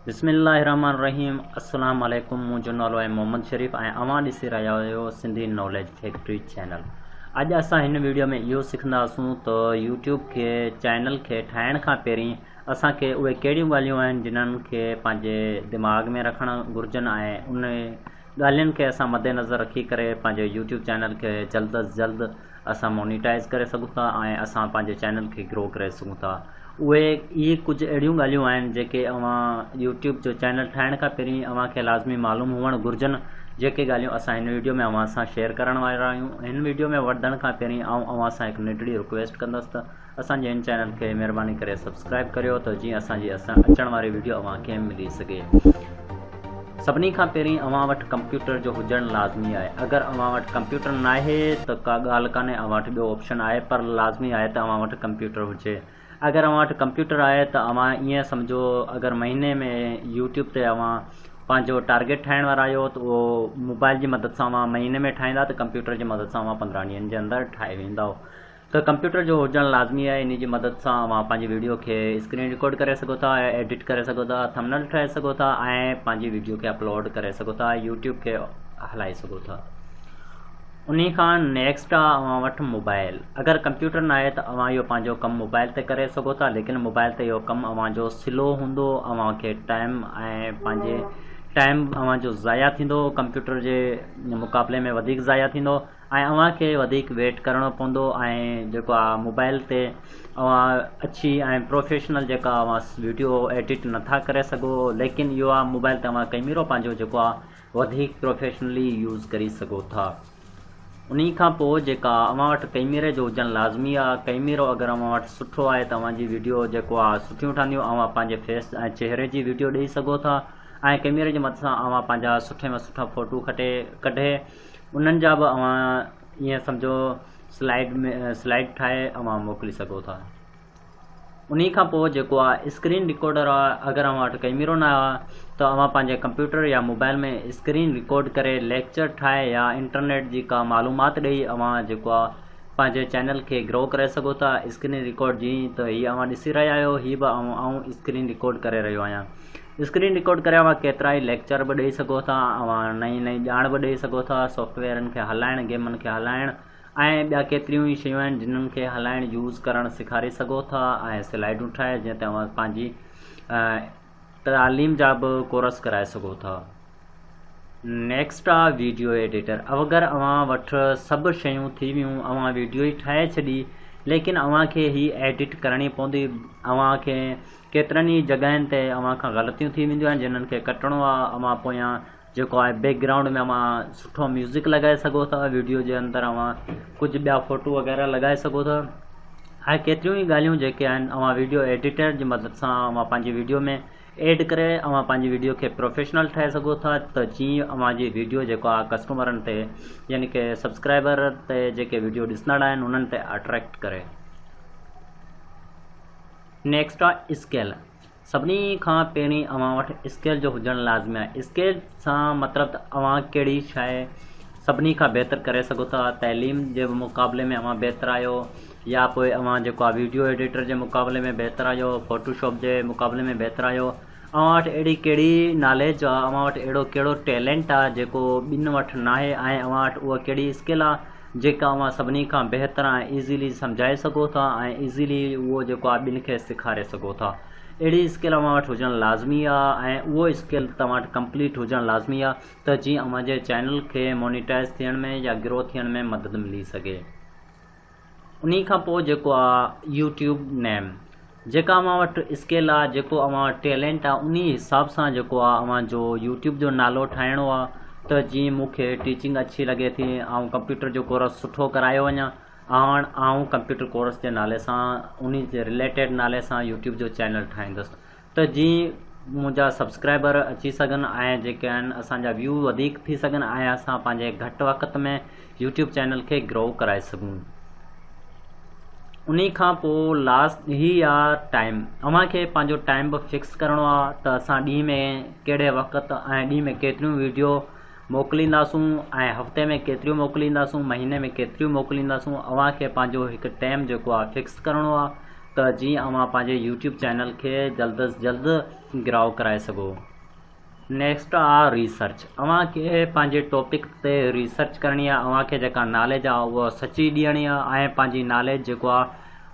بسم الله الرحمن الرحيم السلام عليڪم منهنجو نالو آهي محمد شريف ۽ اوهان ڏسي رهيا آهيو سنڌي ناليج فيڪٽري چينل اڄ اسان هن ويڊيو ۾ اهو سکنداسون ته يوٽيوب کي چينل کي ٺاهڻ کان پهرين اسان کي اهي ڪهڙيون ڳالهيون آهن جنهن کي پنهنجي دماغ ۾ رکڻ گهرجن ۽ ان ڳالهين کي اسان مدنظر رکي ڪري پنهنجي يوٽيوب چينل کي جلد از جلد اسان مونيٽائز ڪري سگهون ٿا ۽ اسان پنهنجي چينل کي گرو ڪري سگهون ٿا اهي اهي ڪجهه اهڙيون ڳالهيون آهن جيڪي اوهان يوٽيوب جو چينل ٺاهڻ کان پهرين اوهان کي لازمي معلوم هئڻ گهرجن جيڪي ڳالهيون اسان هن ويڊيو ۾ اوهان سان شيئر ڪرڻ وارا آهيون هن ويڊيو ۾ وڌڻ کان پهرين آئون اوهان سان هڪ ننڍڙي رڪويسٽ ڪندس ته اسان جي هن چينل کي مهرباني ڪري سبسڪرائب ڪريو ته جيئن اسان جي اچڻ واري ويڊيو اوهان کي ملي سگهي سڀني کان پهرين اوهان وٽ ڪمپيوٽر جو هجڻ لازمي آهي اگر اوهان وٽ ڪمپيوٽر نه آهي ته ڪا ڳالهه ڪانهي اوهان وٽ ٻيو آپشن آهي پر لازمي آهي ته اوهان وٽ ڪمپيوٽر هجي اگر اوهان وٽ ڪمپيوٽر آهي ته اوهان ائين سمجهو اگر مهيني ۾ يوٽيوب تي اوهان پنهنجو ٽارگيٽ ٺاهڻ وارا آهيو ته اهو موبائل جي مدد سان اوهان مهيني ۾ ٺاهيندا ته ڪمپيوٽر جي مدد سان اوهان پندرهن ڏينهن جي اندر ٺاهي ويندو ته ڪمپيوٽر جو هجڻ لازمي آهي انهي جي مدد سان اوهان پنهنجي ويڊيو کي اسڪرين رڪارڊ ڪري سگهو ٿا ايڊٽ ڪري سگهو ٿا ٿمنل ٺاهي سگهو ٿا ۽ پنهنجي ويڊيو کي اپلوڊ ڪري سگهو ٿا ۽ يوٽيوب کي هلائي سگهو ٿا انهي کان نيڪسٽ آ اوهان وٽ موبائل اگر ڪمپيوٽر نه آهي ته اوهان اهو پنهنجو ڪم موبائل تي ڪري سگهو ٿا ليڪن موبائل تي اهو ڪم اوهان جو سلو هوندو اوهان کي ٽائيم ۽ پنهنجي ٽائيم اوهان جو ضايع ٿيندو ڪمپيوٽر جي مقابلي ۾ وڌيڪ ضايع ٿيندو ۽ اوهان کي وڌيڪ ويٽ ڪرڻو پوندو ۽ جيڪو آ موبائل تي اوهان اڇي ۽ پروفيشنل جيڪا اوهان ويڊيو ايڊٽ نٿا ڪري سگهو ليڪن اهو آ موبائل تي اوهان ڪئميرو پنهنجو جيڪو آ وڌيڪ پروفيشنلي يوز ڪري سگهو ٿا انهي کان پوء جيڪا اوهان وٽ ڪئميري جو هجڻ لازمي آ ڪئميرو اگر اوهان وٽ سٺو آهي ته اوهان جي ويڊيو جيڪو آ سٺيون ٺهنديون اوهان پنهنجي فيس ۽ چهري جي ويڊيو ڏئي سگهو ٿا ۽ ڪئميري جي مدد سان اوهان پنهنجا سٺي ۾ سٺا فوٽو کٽي ڪڍي انهن جا به اوهان ائين سمجهو سلائيڊ ۾ سلائيڊ ٺاهي اوهان موڪلي سگهو ٿا انهي کان پوء جيڪو آهي اسڪرين رڪارڊر آهي اگر اوهان وٽ ڪئميرو نه آهي ته اوهان پنهنجي ڪمپيوٽر يا موبائل ۾ اسڪرين رڪارڊ ڪري ليڪچر ٺاهي يا انٽرنيٽ جي ڪا معلومات ڏئي اوهان جيڪو آهي پنهنجي چينل کي گرو ڪري سگهو ٿا اسڪرين رڪارڊ جيئن ته هي اوهان ڏسي رهيا آهيو هي به آئون اسڪرين رڪارڊ ڪري رهيو آهيان اسڪرين رڪارڊ ڪري اوهان ڪيترائي ليڪچر به ڏئي سگهو ٿا اوهان نئين نئين ڄاڻ به ڏئي سگهو ٿا سافٽويئرن کي هلائڻ گيمن کي هلائڻ ۽ ٻيا ڪيتريون ئي شيون آهن جنن کي هلائڻ يوز ڪرڻ سيکاري سگهو ٿا ۽ سلائيڊون ٺاهي جنهن تي اوهان پنهنجي تعليم جا به ڪورس ڪرائي سگهو ٿا نيڪسٽ آ ويڊيو ايڊيٽر اوگر اوهان وٽ سڀ شيون ٿي ويون اوهان ويڊيو ئي ٺاهي ڇڏي ليڪن اوهان کي هي ايڊيٽ ڪرڻي پوندي اوهان کي ڪيترن ئي جڳهين تي اوهان کان غلطيون ٿي وينديون آهن جنهن کي ڪٽڻو آهي اوهان پويان جيڪو آهي بيڪ گرائونڊ ۾ اوهان سٺو ميوزڪ لڳائي سگهو ٿا ويڊيو جي اندر اوهان ڪجهه ٻيا فوٽو وغيره لڳائي سگهو ٿا هاي ڪيتريون ئي ڳالهيون جيڪي آهن اوهان ويڊيو ايڊيٽر جي مدد سان اوهان پنهنجي ويڊيو ۾ ايڊ ڪري اوهان پنهنجي ويڊيو کي پروفيشنل ٺاهي سگهو ٿا ته جيئن اوهان جي ويڊيو جيڪو آهي ڪسٽمرن تي يعني ڪي سبسڪرائبر تي جيڪي ويڊيو ڏسندڙ آهن انهن تي اٽريڪٽ ڪري نيڪسٽ آهي اسڪيل سڀني کان پهرين اوهان وٽ اسڪيل جو هجڻ لازمي آهي اسڪيل سان مطلب ته اوهان ڪهڙي شاهي سڀني کان بهتر ڪري سگهو ٿا تعليم جي مقابلي ۾ اوهان بهتر آهيو يا پوء اوهان جيڪو آهي ويڊيو ايڊيٽر جي مقابلي ۾ بهتر آهيو ڦوٽو شاپ جي مقابلي ۾ بهتر آهيو اوهان وٽ اهڙي ڪهڙي ناليج آ، اوهان وٽ اهڙو ڪهڙو ٽيلينٽ آ جيڪو ٻين وٽ ناهي ۽ اوهان وٽ اها ڪهڙي اسڪل آ جيڪا اوهان سڀني کان بهتر ۽ ايزلي سمجهائي سگهو ٿا ۽ ايزلي اهو جيڪو آ ٻين کي سيکاري سگهو ٿا. اهڙي اسڪل اوهان وٽ هجڻ لازمي آ ۽ اهو اسڪل توهان وٽ ڪمپليٽ هجڻ لازمي آ ته جيئن اوهان جي چينل کي مونيٽائز ٿيڻ ۾ يا گرو ٿيڻ ۾ مدد ملي سگهي. انهي کان پوء جيڪو آ يو ٽيوب نيم جيڪا اوهان وٽ اسڪيل آ جيڪو اوهان وٽ ٽيلنٽ آ انهي حساب سان جيڪو آ اوهان جو يو ٽيوب جو نالو ٺاهڻو آ ته جيئن مون کي ٽيچنگ اڇي لڳي ٿي آئون ڪمپيوٽر جو ڪورس سٺو ڪرايو وڃان هاڻ آئون ڪمپيوٽر ڪورس جي نالي سان انهي جي رليٽيڊ نالي سان يو ٽيوب جو چينل ٺاهيندس ته جيئن منهنجا سبسڪرائبر اچي سگهن ۽ جيڪي آهن اسان جا ويو وڌيڪ ٿي سگهن ۽ اسان پنهنجي گهٽ وقت ۾ يوٽيوب چينل کي گرو ڪرائي سگهون انهي کان پوء لاسٽ هي آ ٽائيم اوهان کي پنهنجو ٽائيم به فڪس ڪرڻو آ ته اسان ڏينهن ۾ ڪهڙي وقت ۽ ڏينهن ۾ ڪيتريون ويڊيو موڪلينداسون ۽ هفتي ۾ ڪيتريون موڪلينداسون مهيني ۾ ڪيتريون موڪلينداسون اوهان کي پنهنجو هڪ ٽائيم جيڪو آ فڪس ڪرڻو آ ته جيئن اوهان پنهنجي يوٽيوب چينل کي جلد از جلد گراء ڪرائي سگهو نيڪسٽ آ ريسرچ اوهان کي پنهنجي ٽاپڪ تي ريسرچ ڪرڻي آ اوهان کي جيڪا ناليج آ اهو سچي ڏيڻي آ ۽ پنهنجي ناليج جيڪو آ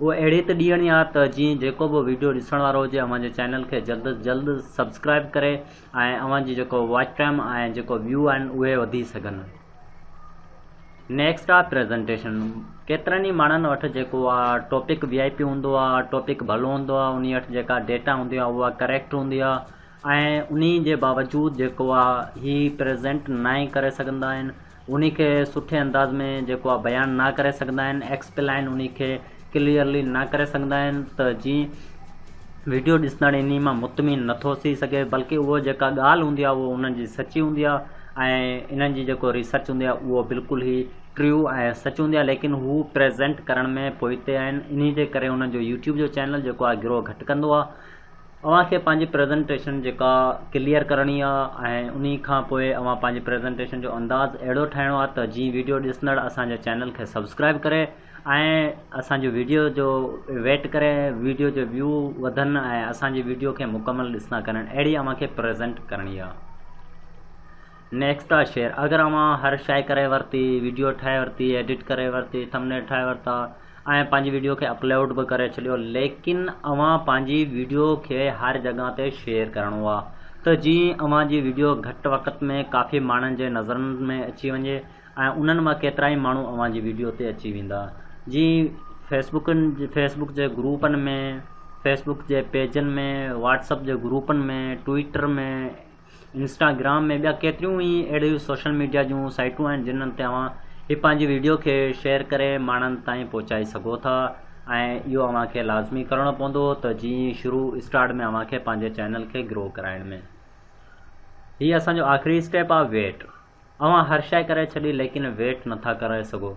اهو اهڙي ته ڏيڻي آ ته جيئن جيڪو به ويڊيو ڏسڻ وارو هجي اوهان جي چينل کي جلد از جلد سبسڪرائب ڪري ۽ اوهان جي جيڪو واچ ٽائيم ۽ جيڪو ويو آهن اهي وڌي سگهن نيڪسٽ آهي پريزنٽيشن ڪيترن ئي ماڻهن وٽ جيڪو آهي ٽاپڪ وي آئي پي هوندو آهي ٽاپڪ ڀلو هوندو آهي انهي وٽ جيڪا ڊيٽا هوندي آهي اها ڪريڪٽ هوندي آهي ۽ انهي جي باوجود جيڪو آهي هي پريزنٽ ناهي ڪري سگهندا آهن انهي کي سٺي انداز ۾ جيڪو آ بيان نه ڪري سگهندا آهن Explain انهي کي Clearly نه ڪري سگهندا آهن ته جي ويڊيو ڏسندڙ انهي مان مطمئن نه ٿو ٿي سگهي بلڪه اهو جيڪا ڳالهه هوندي آ اهو انهن جي سچي هوندي آ ۽ انهن جي جيڪو ريسرچ هوندي آ اهو بلڪل هي True ۽ سچ هوندي آ ليڪن هو Present ڪرڻ ۾ پوئتي آهن انهي جي ڪري انهن جو يوٽيوب جو چينل جيڪو آ گروهه گهٽ ڪندو آ. اوهان کي پنهنجي پريزنٽيشن جيڪا ڪليئر ڪرڻي آ ۽ انهي کان پوء اوهان پنهنجي پريزنٽيشن جو انداز اهڙو ٺاهڻو آ ته جيئن ويڊيو ڏسندڙ اسان جي چينل کي سبسڪرائيب ڪري ۽ اسان جي ويڊيو جو ويٽ ڪري ويڊيو جي ويو وڌن ۽ اسان جي ويڊيو کي مڪمل ڏسندا ڪرن اهڙي اوهان کي پريزنٽ ڪرڻي آ. نيڪسٽ شيئر اگر اوهان هر شئي ڪري ورتي ويڊيو ٺاهي ورتي ايڊٽ ڪري ورتي ٿمنيل ٺاهي ورتا ۽ پنهنجي ويڊيو کي اپلوڊ به ڪري ڇڏيو ليڪن اوهان پنهنجي ويڊيو کي هر جڳهه تي شيئر ڪرڻو آ ته جيئن اوهان جي ويڊيو گهٽ وقت ۾ ڪافي ماڻهن جي نظرن ۾ اچي وڃي ۽ انهن مان ڪيترائي ماڻهو اوهان جي ويڊيو تي اچي ويندا جيئن فيسبڪن فيسبڪ جي گروپن ۾ فيسبڪ جي پيجن ۾ واٽس اپ جي گروپن ۾ ٽوئيٽر ۾ انسٽاگرام ۽ ٻيا ڪيتريون ئي اهڙيون سوشل ميڊيا جون سائيٽون آهن جنهن تي اوهان هي پنهنجي ويڊيو کي شيئر ڪري ماڻهن تائين پهچائي سگهو ٿا ۽ اهو اوهان کي لازمي ڪرڻو پوندو ته جي شروع اسٽارٽ ۾ اوهان کي پنهنجي چينل کي گرو ڪرائڻ ۾ هي اسان جو آخري اسٽيپ آهي ويٽ اوهان هر شئي ڪري ڇڏي ليڪن ويٽ نٿا ڪرائي سگهو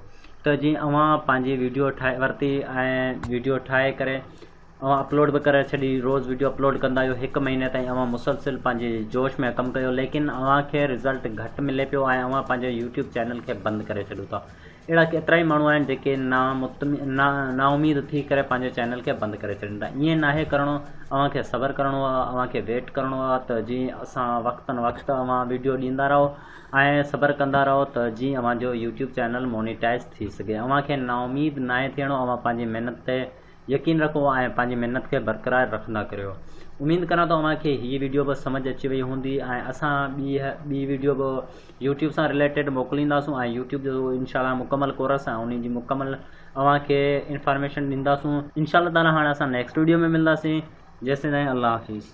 ته جي اوهان پنهنجي ويڊيو ٺاهي ورتي ۽ ويڊيو ٺاهي ڪري اوهان اپلوڊ به ڪري ڇڏي روز ويڊيو اپلوڊ ڪندا آهيو هڪ مهيني تائين اوهان مسلسل پنهنجي جوش ۾ ڪم ڪيو ليڪن اوهان کي رزلٽ گهٽ ملي پيو ۽ اوهان پنهنجي يوٽيوب چينل کي بند ڪري ڇڏيو ٿا اهڙا ڪيترائي ماڻهو آهن جيڪي نا مطمئن نا نا اميد ٿي ڪري پنهنجي چينل کي بند ڪري ڇڏين ٿا ائين ناهي ڪرڻو اوهان کي صبر ڪرڻو آهي اوهان کي ويٽ ڪرڻو آهي ته جيئن اسان وقتن وقت اوهان ويڊيو ڏيندا رهو ۽ صبر ڪندا رهو ته جيئن اوهان جو يوٽيوب چينل مونيٽائز ٿي سگهي اوهان کي نا اميد ناهي ٿيڻو اوهان پنهنجي محنت تي يقين رکو ۽ پنهنجي محنت کي برقرار رکندا ڪريو اميد ڪران ٿو اوهان کي هي وڊيو به سمجهه اچي وئي هوندي ۽ اسان ٻي ٻي وڊيو به يوٽيوب سان رليٽيڊ موڪلينداسون ۽ يوٽيوب جو انشاء الله مڪمل ڪورس ۽ ان جي مڪمل اوهان کي انفارميشن ڏينداسون انشاء الله تعالٰي هاڻ اسان نيڪسٽ وڊيو ۾ ملنداسين جيسين تائين الله حافظ